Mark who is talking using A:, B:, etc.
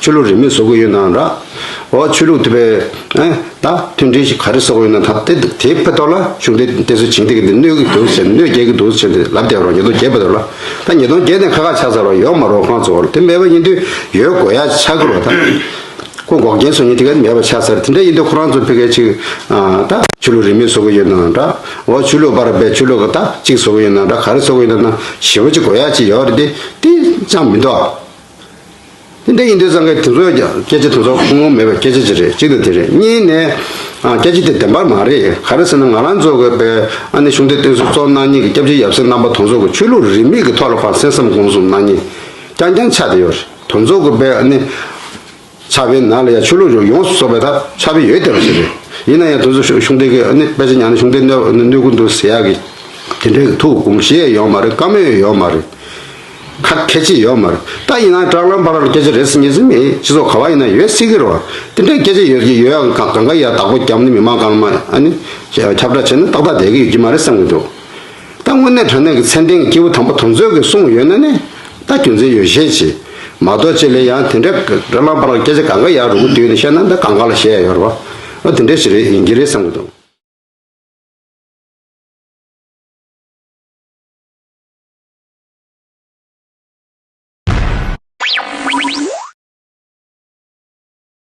A: ཆོས་ལུགས་རིས་མེད་བཟོ་དགོས་ཡོད་ནའང་རག་འོ། ཆོས་ལུགས་དེ་བས་ཨེ་ད། མཐུན་སྒྲིལ་ཞིག་ག་རེ་བཟོ་དགོས་ཡོད་ན་ད་དེ་འདུག་དེའི་ཕེ་ཐོག་ལ་ཆུང་དུས་དེ་ཚོ་བྱིངས་ཏེ་འདི་གནོད་ཀྱི་འདུག་ཟེར་གནོད་བསྐྱལ་གྱི་འདུག་ཟེར་ཏེ་ལབ་བསྡད་པ་རང་ཉིས་སྟོང་བརྒྱད་པ་དེར་ལ་ད་ཉིས་སྟོང་བརྒྱད་ནས་ཁ་ཁ་ཆགས་ཚར་བ་ཡོག་མ་རོག་ཁང་ཚོར་དེ་མེད་པ་ཡིན་དུས་ཡོད་དགོས་ཡ་ཆ་གི་རོ་ད། ཁོ་འགོག་རྐྱེན་བཟོ་ཉིན་དེ་ག་མེད་པ་ཆགས་ཚར་དེ་འདྲ་ཡིན་དུས་ཁོ་རང་ཚོ་ཕེ་གལ་ཆིག་ཨ་ད། ཆོས་ལུགས་རིས་མེད་བཟོ་དགོས་ཡོད་ནའང་རག་འོ་ཆོས་ལུགས་པ་ར་བས་ཆོས་ལུགས་ག་ད་ཅིག་བཟོ་དགོས་ཡོད་ན་རག་ག་རེ་བཟོ་དགོས་ཡོད་ན་ན་ཞེ་བོ་ཅིག་དགོས་ཡ་ཅིག་ཡོག་རེད་དེ་དེ་ཅང་མི་འདུག་ཨ། འདི་འདྲ་ཡིན་དུས་ཙང་སྐད་དེ་ཚོས་ཀྱང་སྐད་ཆ་དེ་ཚོ་ཁུངས་ལུང་མེད་པའི་སྐད་ཆ་ཅིག་རེད་གཅིག་ནས་དེ་རེད་གཉིས་ནས། སྐད་ཆ་དེ་བདེན་པར་མ་རེད་ག་རེ་ཟེར་ན་ང་རང་གཙོས་དགོས་པའི་ཨ་ནེ་གཞུང་འབྲེལ་བསྟེན་གསོལ་གཙོ་གནང་གཉིས་ཀྱི་སྐྱབས་རྗེ་ཡབ་སྲས་རྣམ་པ་དོན་གཙོ་དགོས་ཆོས་ལུགས་རིས་མེད་ཀྱི་ཐོག་ལ་ཕར་གསན་བསམ་དགོངས་གསུམ་གནང་གཉིས་རྐྱང་རྐྱང་ཆགས་བསྡད་ཡོད་རེད་དོན་གཙོ་དགོས་པའི་ཨ་ནེ་ཆགས་པའི་ནགས་ལ་ཡང་ཆུ་ལུད་རོ་ཡོངས་སུ་གསོག་པའི་ཐབས་ཆགས་པས་ཡོལ་བདེ་བར་བྱེད་པས། ཡིན་ན་ཡང་དུས་སུ་གཞུང་འགྲེལ་གྱི་ནི་དཔེ་ཆ་ཉག་ནི་གཞུང་འགྲེལ་སྣོད་ཀུན་ཏུ་ཟེར་ཡག་གི། དེ་འདྲའི་གི་ཐུགས་དགོངས་གཞི་ཡང་ཡོད་མ་རེད་བཀའ་མོལ་ཡང་ཡོད་མ་རེད། ཁ་ཁད་ཅིག་ཡོད་མ་རེད་ད་ཡིན་ན་སྐྲག་ལམ་བར་སྐད་ཆ་རེ་ཟིན་གཉིས་ཟིན་མེད་སྤྱི་ཚོགས་ག་བ་ཡིན་ན་ཡོད་སྲིད་ཀྱི་རོ། དེ་འདྲའི་སྐད་ཆ་ཡོད་ཀྱི་ཡོད་ཡང་གང་ག་ཡ་བདག་པོ་རྒྱབ་ནི་མི་མང་གང་མང་ནི་ཁྱབ་བསྒྲགས་བྱས་ན་ཏག་ཏག་བསྡད་ཀྱི་ཡོད་ཀྱི་མ་རེད་བསམ་གྱི་འདུག། ད་དངོས་གནས་དོན་གནད་ཀྱི་མཚན་ལྡན་གྱི་སྐྱེས་བུ་དམ་པ་དོན་མཛོད་ཀྱིས་གསུངས་ཡོད་ན་ནི་ད་རྒྱུ་མཚན་ཡོད་ཤས་ཆེ། མ་གཏོགས་ཅེ་ལེ་ཡང་དེ་འདྲའི་ར་ལ་བར་ལ་སྐད་ཆ་ག་འགའ་ཡག་རུང་བསྡུས་ནས་བཤད་ན་ད་གང་ག་ལ་བཤད་ཡོད་རེད་བ། དེ་འདྲའི་ཞིག་རེད་ཡིན་གྱི་རེད་བསམ་གྱི་འདུག།